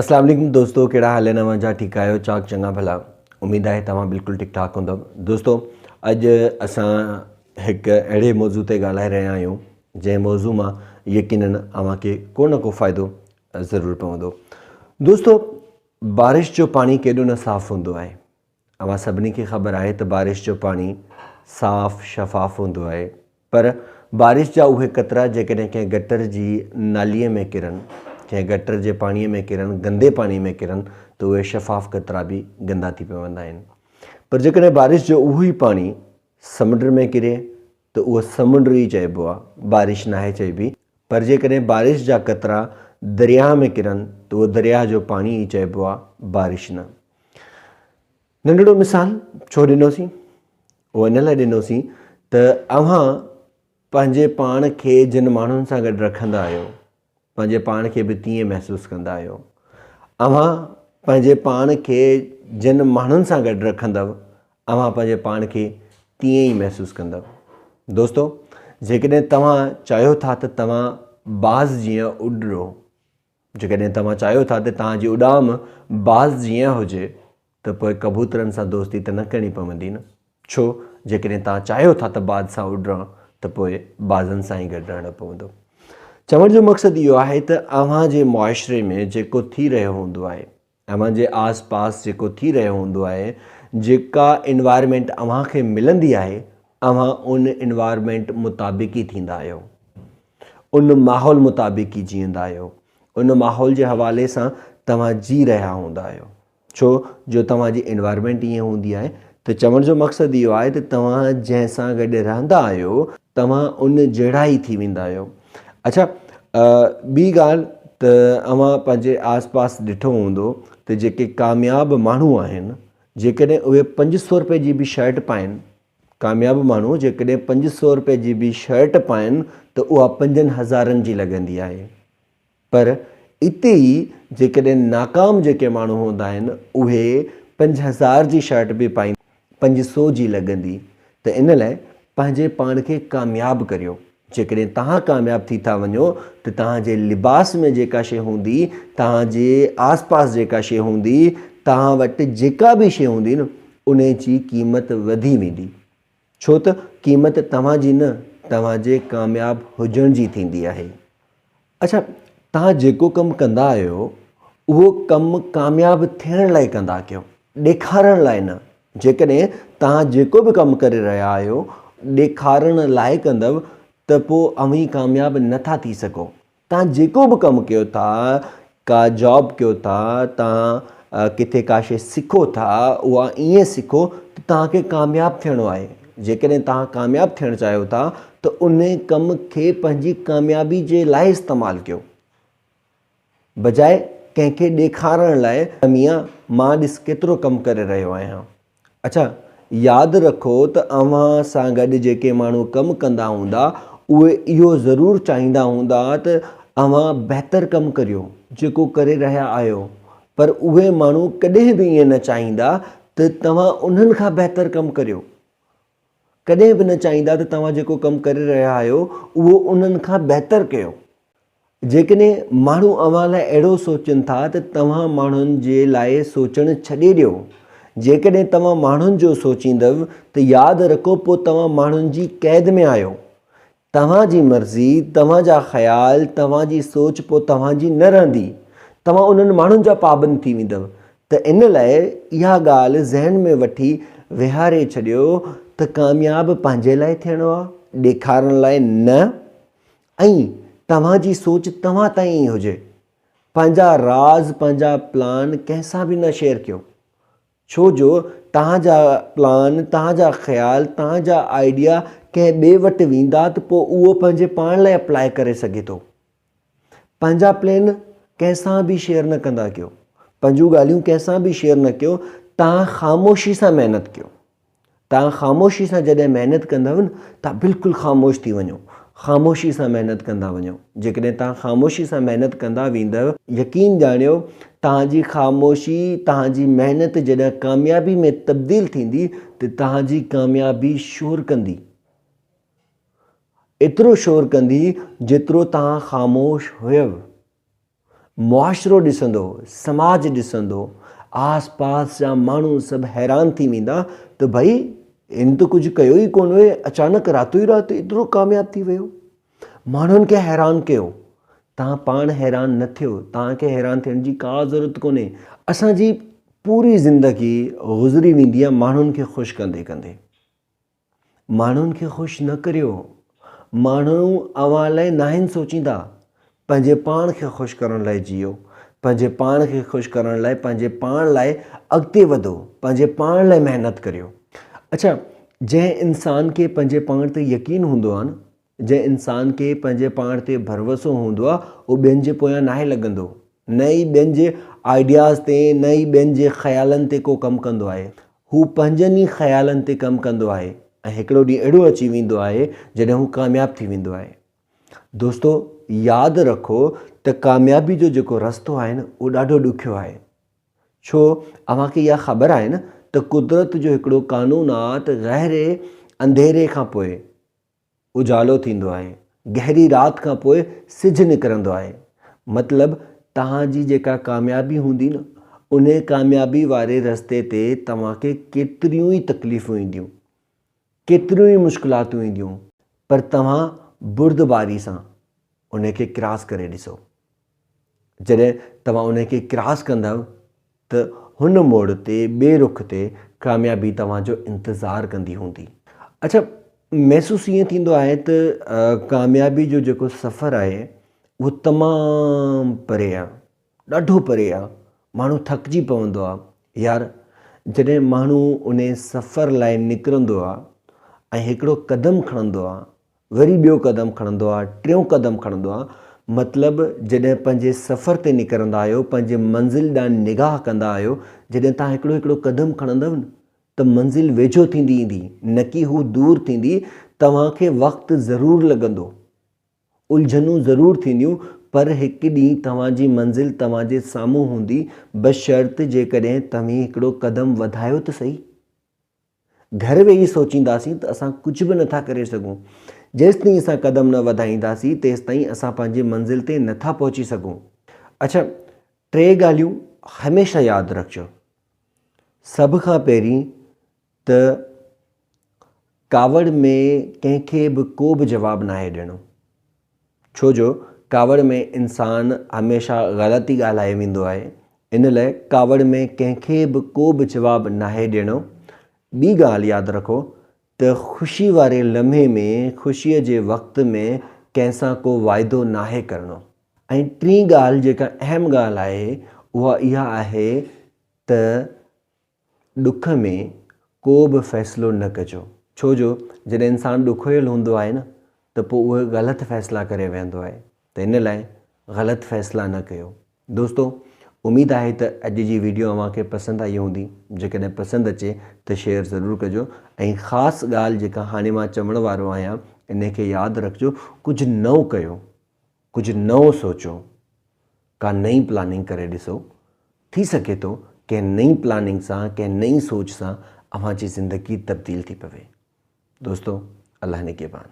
اسلام عليڪم دوستو ڪهڙا حال آهن اوهان جا ٺيڪ آهيو چاڪ چڱا ڀلا اميد آهي توهان بلڪل ٺيڪ ٺاڪ هوندو دوستو اڄ اسان هڪ اهڙي موضوع تي ڳالهائي رهيا آهيون جنهن موضوع مان يقينن اوهان کي ڪو نه ڪو فائدو ضرور پوندو دوستو بارش جو پاڻي ڪيڏو نه صاف هوندو آهي اوهان سڀني کي خبر آهي ته بارش جو پاڻي صاف شفاف هوندو آهي پر بارش جا اهي قطرا جيڪڏهن ڪنهن گٽر جي ناليء ۾ ڪرن، ڪنهن گٽر جي پاڻيء ۾ ڪرن، گندي پاڻي ۾ ڪرن ته اهي شفاف قطرا به گندا ٿي پوندا آهن پر جيڪڏهن بارش جو اهو ئي پاڻي سمنڊ ۾ ڪري، ته اهو سمنڊ ئي چئبو آهي، بارش ناهي چئبي، پر جيڪڏهن بارش جا قطرا درياهه ۾ ڪرن ته اهو درياهه جو پاڻي ئي چئبو آهي، بارش نه. ننڍڙو مثال ڇو ڏنوسين؟ اهو ان لاء ڏنوسين ته اوهان پنهنجي پاڻ کي جن ماڻهن سان گڏ رکندا آهيو، پنهنجي پاڻ کي به تيئن محسوس ڪندا آهيو. اوهان پنهنجي پاڻ کي جن ماڻهن سان گڏ رکندؤ، اوهان پنهنجي پاڻ کي تيئن ئي محسوس ڪندؤ. دوستو! جيڪڏهن توهان چاهيو ٿا ته توهان باز جيان اڏرو، جيڪڏهن توهان چاهيو ٿا ته توهان جي اڏام باز جيان هجي، ته پوء ڪبوترن سان دوستي ته نه ڪرڻي پوندي نه؟ ڇو، جيڪڏهن توهان چاهيو ٿا ته باز سان اڏران ته پوء بازن سان ئي گڏ رهڻو پوندو. چوڻ جو مقصد اهو آهي ته اوهان جي معاشري ۾ جيڪو ٿي رهيو هوندو آهي، اوهان جي آس پاس جيڪو ٿي رهيو هوندو آهي، جيڪا انوائرمينٽ اوهان کي ملندي آهي، اوهان ان انوائرمينٽ مطابق ئي ٿيندا آهيو. ان ماحول مطابق ئي جيئندا آهيو. ان ماحول جي حوالي سان توهان جي رهيا هوندا آهيو. ڇو جو توهان جي انوائرمينٽ ائين هوندي آهي ته چوڻ جو مقصد اهو آهي ته توهان جنهن سان گڏ رهندا آهيو توهان ان جهڙا ئي ٿي ويندا آهيو اڇا ٻي ڳالهه ته اوهان پنهنجي آس پاس ڏٺو هوندو ته جيڪي ڪامياب ماڻهو آهن جيڪڏهن اهي پنج سو روپئي جي به شرٽ پائن ڪامياب ماڻهو جيڪڏهن پنج سو روپئي جي به شرٽ پائن ته اها پنجن هزارن جي لڳندي آهي پر اتي ئي جيڪڏهن ناڪام جيڪي ماڻهو هوندا آهن اهي پنج هزار جي شرٽ به پائين پنج سو جي لڳندي ته ان لاء پنهنجي پاڻ کي ڪامياب ڪريو جيڪڏهن توهان ڪامياب ٿي ٿا وڃو ته توهان جي لباس ۾ جيڪا شي هوندي توهان جي آس پاس جيڪا شي هوندي توهان وٽ جيڪا به شي هوندي نه انهي جي قيمت وڌي ويندي ڇو ته قيمت توهان جي نه توهان جي ڪامياب هجڻ جي ٿيندي آهي. اڇا توهان جيڪو ڪم ڪندا آهيو اهو ڪم ڪامياب ٿيڻ لاء ڪندا ڪيو ڏيکارڻ لاء نه. جيڪڏهن توهان جيڪو به ڪم ڪري رهيا آهيو ڏيکارڻ لاء ڪندؤ ته پوء اوهين ڪامياب نه ٿا ٿي سگهو. توهان جيڪو به ڪم ڪيو ٿا، ڪا جاب ڪيو ٿا، توهان ڪٿي ڪا شيء سکو ٿا، اها ائين سکو ته توهان کي ڪامياب ٿيڻو آهي. جيڪڏهن توهان ڪامياب ٿيڻ چاهيو ٿا ته ان ڪم کي پنهنجي ڪاميابي جي لاء استعمال ڪيو. بجاء ڪنهن کي ڏيکارڻ لاء ته ميان مان ڏس ڪيترو ڪم ڪري رهيو آهيان. اڇا، ياد رکو ته اوهان سان گڏ جيڪي ماڻهو ڪم ڪندا هوندا، اهي اهو ضرور چاهيندا هوندا ته اوهان بهتر ڪم ڪريو، جيڪو ڪري رهيا آهيو. پر اهي ماڻهو ڪڏهن به ائين نه چاهيندا ته توهان انهن کان بهتر ڪم ڪريو. ڪڏهن به نه چاهيندا ته توهان جيڪو ڪم ڪري رهيا آهيو اهو انهن کان بهتر ڪيو. جيڪڏهن ماڻهو اوهان لاء اهڙو سوچين ٿا ته توهان ماڻهن جي لاء سوچڻ ڇڏي ڏيو. جيڪڏهن توهان ماڻهن جو سوچيندؤ ته ياد رکو پوء توهان ماڻهن جي قيد ۾ آهيو. توهان جي مرضي، توهان جا خيال، توهان جي سوچ پوء توهان جي نه رهندي. توهان انهن ماڻهن جا پابند ٿي ويندؤ. ته ان لاء اها ڳالهه ذهن ۾ وٺي ويهاري ڇڏيو ته ڪامياب پنهنجي لاء ٿيڻو آهي، ڏيکارڻ لاء نه. ۽ توهان جي سوچ توهان تائين ئي هجي. پنهنجا راز، پنهنجا پلان ڪنهن سان به نه شيئر ڪيو. ڇو جو توهان جا پلان، توهان جا خيال، توهان جا آئيڊيا ڪنهن ٻئي وٽ ويندا ته پوء اهو پنهنجي پاڻ لاء اپلاء ڪري سگهي ٿو. پنهنجا پلين ڪنهن سان به شيئر نه ڪندا ڪيو. پنهنجون ڳالهيون ڪنهن سان به شيئر نه ڪيو. توهان خاموشي سان محنت ڪيو. توهان خاموشي سان جڏهن محنت ڪندا آهيو نه توهان بلڪل خاموش ٿي وڃو خاموشي سان محنت ڪندا وڃو جيڪڏهن توهان خاموشي سان محنت ڪندا ويندؤ يقين ڄاڻيو توهان جي خاموشي توهان جي محنت جڏهن ڪاميابي ۾ تبديل ٿيندي ته توهان جي ڪاميابي شور ڪندي ايترو شور ڪندي جيترو توهان خاموش هيو معاشرو ڏسندو، سماج ڏسندو، آس پاس جا ماڻهو سڀ حيران ٿي ويندا ته ڀئي هن ته ڪجهه ڪيو ئي ڪونه هئي اچانڪ راتو ئي رات ايترو ڪامياب ٿي ويو. ماڻهن کي حيران ڪيو. توهان پاڻ حيران نه ٿيو، توهان کي حيران ٿيڻ جي ڪا ضرورت ڪونهي. اسان جي پوري زندگي گذري ويندي آهي ماڻهن کي خوش ڪندي ڪندي. ماڻهن کي خوش نه ڪريو. ماڻهو اوهان لاء ناهن سوچيندا. پنهنجي پاڻ کي خوش ڪرڻ لاء جيئو. پنهنجي پاڻ کي خوش ڪرڻ لاء پنهنجي پاڻ لاء اڳتي وڌو. پنهنجي پاڻ لاء محنت ڪريو. اڇا جنهن انسان کي پنهنجي پاڻ تي يقين هوندو آهي نه جنهن انسان کي پنهنجي پاڻ تي ڀروسو هوندو آهي اهو ٻين جي پويان ناهي لڳندو، نه ئي ٻين جي آئيڊياز تي، نه ئي ٻين جي خيالن تي ڪو ڪم ڪندو آهي. هو پنهنجن ئي خيالن تي ڪم ڪندو آهي ۽ هڪڙو ڏينهن اهڙو اچي ويندو آهي جڏهن هو ڪامياب ٿي ويندو آهي. دوستو ياد رکو ته ڪاميابي جو جيڪو رستو آهي نه اهو ڏاڍو ڏکيو آهي. ڇو اوهان کي اها خبر آهي نه ته قدرت جو هڪڙو قانون آهي ته گهري انڌيري کان پوء اجالو ٿيندو آهي. گهري رات کان پوء سج نڪرندو آهي. مطلب توهان جي جيڪا ڪاميابي هوندي نه انهي ڪاميابي واري رستي تي توهان کي ڪيتريون ئي تڪليفون اينديون. ڪيتريون ئي مشڪلاتون اينديون پر توهان بردباري سان انهي کي ڪراس ڪري ڏسو. جڏهن توهان انهي کي ڪراس ڪندؤ ته هن موڙ تي ٻئي رخ تي ڪاميابي توهان جو انتظار ڪندي هوندي. اڇا محسوس ائين ٿيندو آهي ته ڪاميابي جو جيڪو سفر آهي اهو تمام پري آهي ڏاڍو پري آهي ماڻهو ٿڪجي پوندو آهي يار جڏهن ماڻهو انهي سفر لاء نڪرندو آهي ۽ هڪڙو قدم کڻندو آهي وري ٻيو قدم کڻندو آ، ٽيون قدم کڻندو آ، مطلب جڏهن پنهنجي سفر تي نڪرندا آهيو، پنهنجي منزل ڏانهن نگاهه ڪندا آهيو، جڏهن توهان هڪڙو هڪڙو قدم کڻندؤ نه ته منزل ويجهو ٿيندي ايندي، نڪي هو دور ٿيندي، توهان کي وقت ضرور لڳندو، الجهنون ضرور ٿينديون، پر هڪ ڏينهن توهان جي منزل توهان جي سامهون هوندي، بشرط جيڪڏهن توهين هڪڙو قدم وڌايو ته سهي. گهر ويهي سوچينداسين ته اسان ڪجهه به نٿا ڪري سگهون. جيستائين اسان قدم نه وڌائينداسين تيستائين اسان پنهنجي منزل تي نٿا پهچي سگهون. اڇا ٽي ڳالهيون هميشه ياد رکجو. سڀ کان پهرين ته ڪاوڙ ۾ ڪنهن کي به ڪو به جواب ناهي ڏيڻو. ڇو جو ڪاوڙ ۾ انسان هميشه غلط ئي ڳالهائي ويندو آهي، ان لئه ڪاوڙ ۾ ڪنهن کي به ڪو به جواب ناهي ڏيڻو. ٻي ڳالهه ياد رکو ته خوشي واري لمحي ۾ خوشيء جي وقت ۾ ڪنهن سان ڪو واعدو ناهي ڪرڻو. ۽ ٽين ڳالهه جيڪا اهم ڳالهه آهي اها اها آهي ته. ڏک ۾ ڪو به فيصلو نه ڪجو، ڇو جو جڏهن انسان ڏکويل هوندو آهي نه ته پوء اهي غلط فيصلا ڪري ويهندو آهي ته ان لاء غلط فيصلا نه ڪيو. دوستو اميد آهي ته اڄ جي ويڊيو اوهان کي پسند آئي هوندي، جيڪڏهن پسند اچي ته شيئر ضرور ڪجو ۽ خاص ڳالهه جيڪا هاڻي مان چوڻ وارو آهيان انهي کي ياد رکجو ڪجهه نئون ڪيو، ڪجهه نئون سوچو. ڪا نئين پلاننگ ڪري ڏسو. ٿي سگهي ٿو ڪنهن نئين پلاننگ سان، ڪنهن نئين سوچ سان اوهان جي زندگي تبديل ٿي پوي. دوستو الله نگهبان.